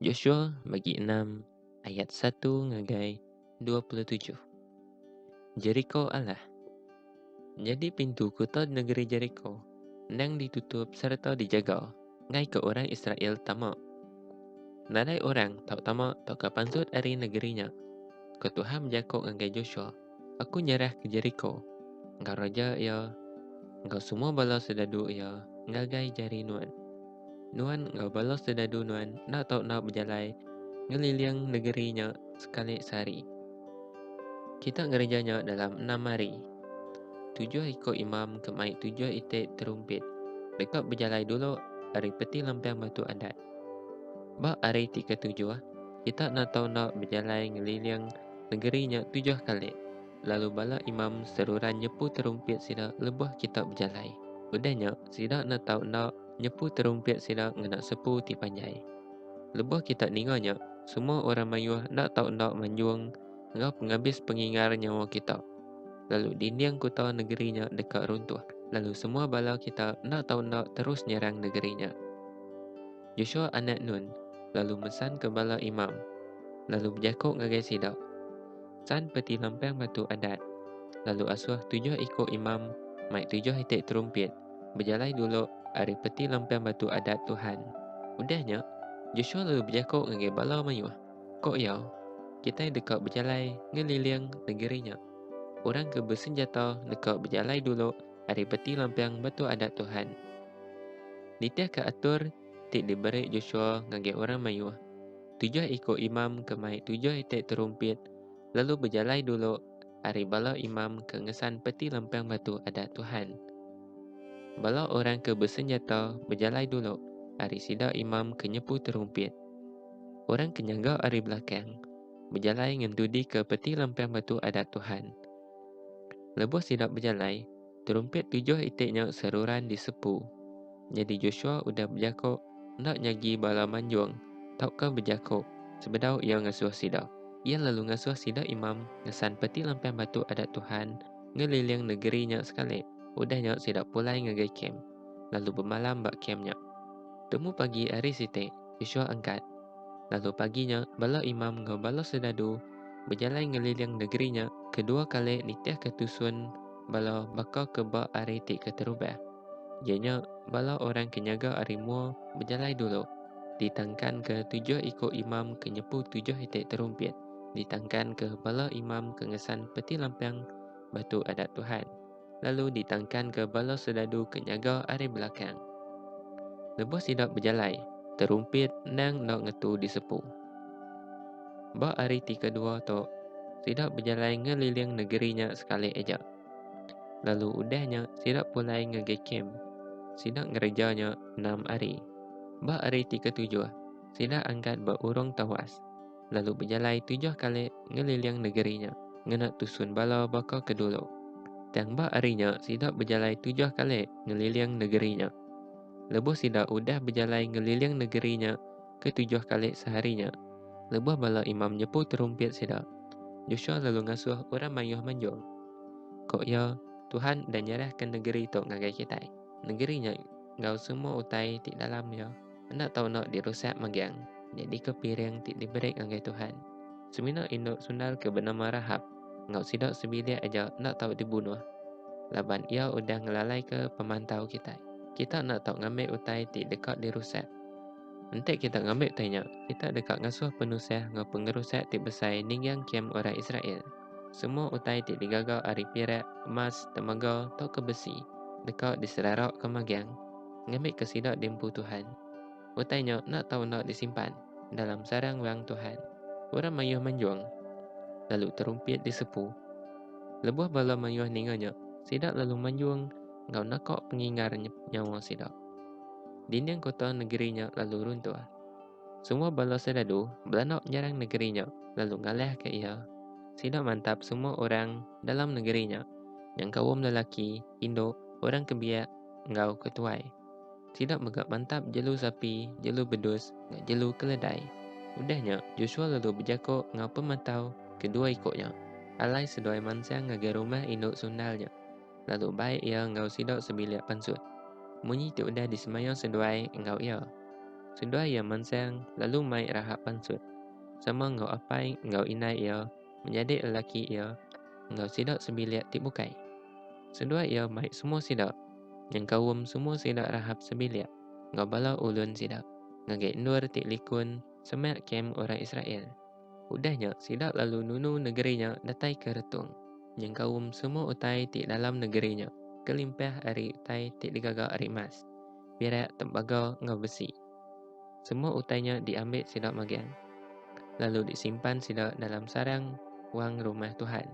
Joshua bagi enam ayat satu ngagai dua puluh tujuh. Jeriko Allah. Nyadi pintu kuta negeri Jeriko endang ditutup sereta dijaga ngaika orang Israel tama. Nadai orang tau tama tauka pansut ari negeri nya, ko Tuhan bejako ngagai Joshua. Aku nyerahka Jeriko enggau raja iya enggau semua bala soldadu iya ngagai jari nuan. Nuan enggau bala soldadu nuan enda tau enda bejalai ngeliling negeri nya sekali sehari. Kita ngereja nya dalam enam hari. Tujuh iko imam ke mai tujuh iti terumpit deka bejalai dulu ari Peti Lempang Batu Adat. Ba hari ti ketujuh, kita enda tau enda bejalai ngeliling Negeri nya tujuh kali. Lalu bala imam seruran nyepu terumpit sida lebuh kita bejalai. Udah nya, sida enda tau enda nyepu terumpit sida ngena sepu ti panjai. Lebuh kita ninga nya, semua orang mayuh enda tau enda manjung enggau pengabis pengingar nyawa kita. Lalu dinding kuta negeri nya deka runtuh, lalu semua bala kita enda tau enda terus nyerang negeri nya. Joshua anak Nun lalu mesanka bala imam, lalu bejaku ngagai sida, San peti lampang batu Adat, lalu asuh tujuh iku imam mai tujuh iti terumpit bejalai dulu ari peti lampang batu Adat Tuhan. Udah nya, Joshua lalu bejaku ngagai bala mayuh, Ku iya, Kitai deka bejalai ngeliling negeri nya. Orang ke besenjata deka bejalai dulu, ari peti lampiang Batu Adat Tuhan. Nitihka atur ti diberi Joshua ngagai orang mayuh, tujuh iku imam ke mai tujuh iti terumpit lalu bejalai dulu ari bala imam ke ngesan peti lampiang Batu Adat Tuhan. Bala orang ke besenjata bejalai dulu ari sida imam ke nyepu terumpit. Orang ke nyaga ari belakang bejalai ngendudika peti lampiang Batu Adat Tuhan. Lebuh sida bejalai, terumpit tujuh iti nya seruran disepu. Nyadi Joshua udah bejako enda nyagi bala manjung tauka bejako sebedau iya ngasuh sida. Iya lalu ngasuh sida imam ngesan peti lampang batu Adat Tuhan ngeliling negeri nya sekali. Udah nya sida pulai ngagai kem, lalu bemalam ba kem nya. Temu pagi hari siti, Yosua angkat. Lalu pagi nya, bala imam enggau bala soldadu bejalai ngeliling negeri nya kedua kali nitihka tusun bala baka ke ba hari ti keterubah, iya nya bala orang ke nyaga ari mua bejalai dulu, ditangkanka tujuh iku imam ke nyepu tujuh iti terumpit, ditangkanka bala imam ke ngesan peti lampang Batu Adat Tuhan. lalu ditangkanka bala soldadu ke nyaga ari belakang. Lebuh sida bejalai, terumpit endang enda ngetu disepu. Ba hari ti kedua tu, sida bejalai ngeliling negeri nya sekali aja. Lalu udah nya sida pulai ngagai kem. Sida ngereja nya enam hari. Ba hari ti ketujuh, sida angkat ba urung tawas. lalu bejalai tujuh kali ngeliling negeri nya ngena tusun bala baka ke dulu. Tang ba hari nya sida bejalai tujuh kali ngeliling negeri nya. Lebuh sida udah bejalai ngeliling negeri nya ke tujuh kali sehari nya, lebuh bala imam nyepu terumpit sida, Joshua lalu ngasuh orang mayuh manjung. Ko iya, Tuhan udah nyerahka negeri tu ngagai kitai, negeri nya enggau semua utai ti dalam iya. Enda tau enda dirusak megang. Nyadika piring ti diberi ngagai Tuhan. Semina indu sundal ke benama Rahab enggau sida sebilik aja enda tau dibunuh laban iya udah ngelalaika pemantau kitai. Kita enda tau ngambi utai ti deka dirusak. Enti kita ngambi utai nya, kita deka ngasuh penusah enggau pengerusak ti besai ninggang kem orang Israel. Semua utai ti digaga ari pirak, emas, temaga, tauka besi deka diselaraka megang. ngambika sida diempu Tuhan. Utai nya enda tau enda disimpan dalam sarang Wang Tuhan. Orang mayuh manjung, lalu terumpit disepu. Lebuh bala mayuh ninga nya, sida lalu manjung enggau naka pengingar nyawa sida. Dinding kota negeri nya lalu runtuh. Semua bala serdadu belanda nyerang negeri nya lalu ngalahka iya. Sida mantap semua orang dalam negeri nya, nyengkaum lelaki, indu, orang kebiak, enggau ke tuai. Sida mega mantap jelu sapi, jelu bedus, enggau jelu keledai. Udah nya, Joshua lalu bejako enggau pematau kedua iko nya, alai seduai mansang ngagai rumah indu sundal nya, lalu bai iya enggau sida sebilik pansut. Munyi ti udah disemaya seduai enggau iya. Seduai iya mansang lalu mai rahap pansut, sama enggau apai enggau indai iya, menjadi lelaki iya enggau sida sebilik ti bukai. Seduai iya mai semua sida nyengkaum semua sida Rahab sebilik enggau bala ulun sida ngagai endur ti likun semak kem orang Israel. Udah nya sida lalu nunu negeri nya datai ke retung, nyengkaum semua utai ti dalam negeri nya kelimpah ari utai ti digaga ari emas, pirak, tembaga enggau besi. Semua utai nya diambi sida magang, lalu disimpan sida dalam sarang wang rumah Tuhan.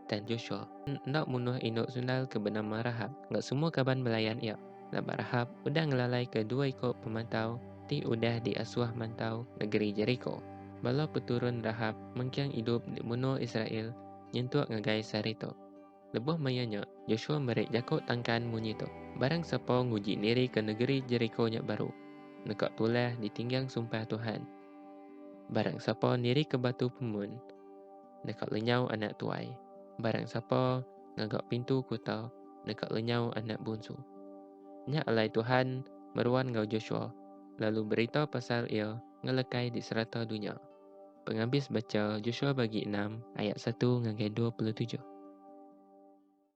Dan Joshua enda munuh indu sundal ke benama Rahab enggau semua kaban belayan iya, laban Rahab udah ngelalaika dua iku pemantau ti udah diasuh mantau negeri Jeriko. Bala peturun Rahab mengking idup di menua Israel nyentuk ngagai sehari tu. Lebuh maya nya, Joshua meri jaku tangkan munyi tu, Barang sapa nguji niri ke negeri Jeriko nya baru, neka tulah ditinggang sumpah Tuhan. Barang sapa niri ke batu pemun, neka lenyau anak tuai. Barang sapa ngaga pintu kuta, neka lenyau anak bunsu. Nya alai Tuhan meruan enggau Joshua, lalu berita pasal iya ngelekai di serata dunya. Pengabis bacha Joshua bagi enam ayat satu ngagai dua puluh tujuh.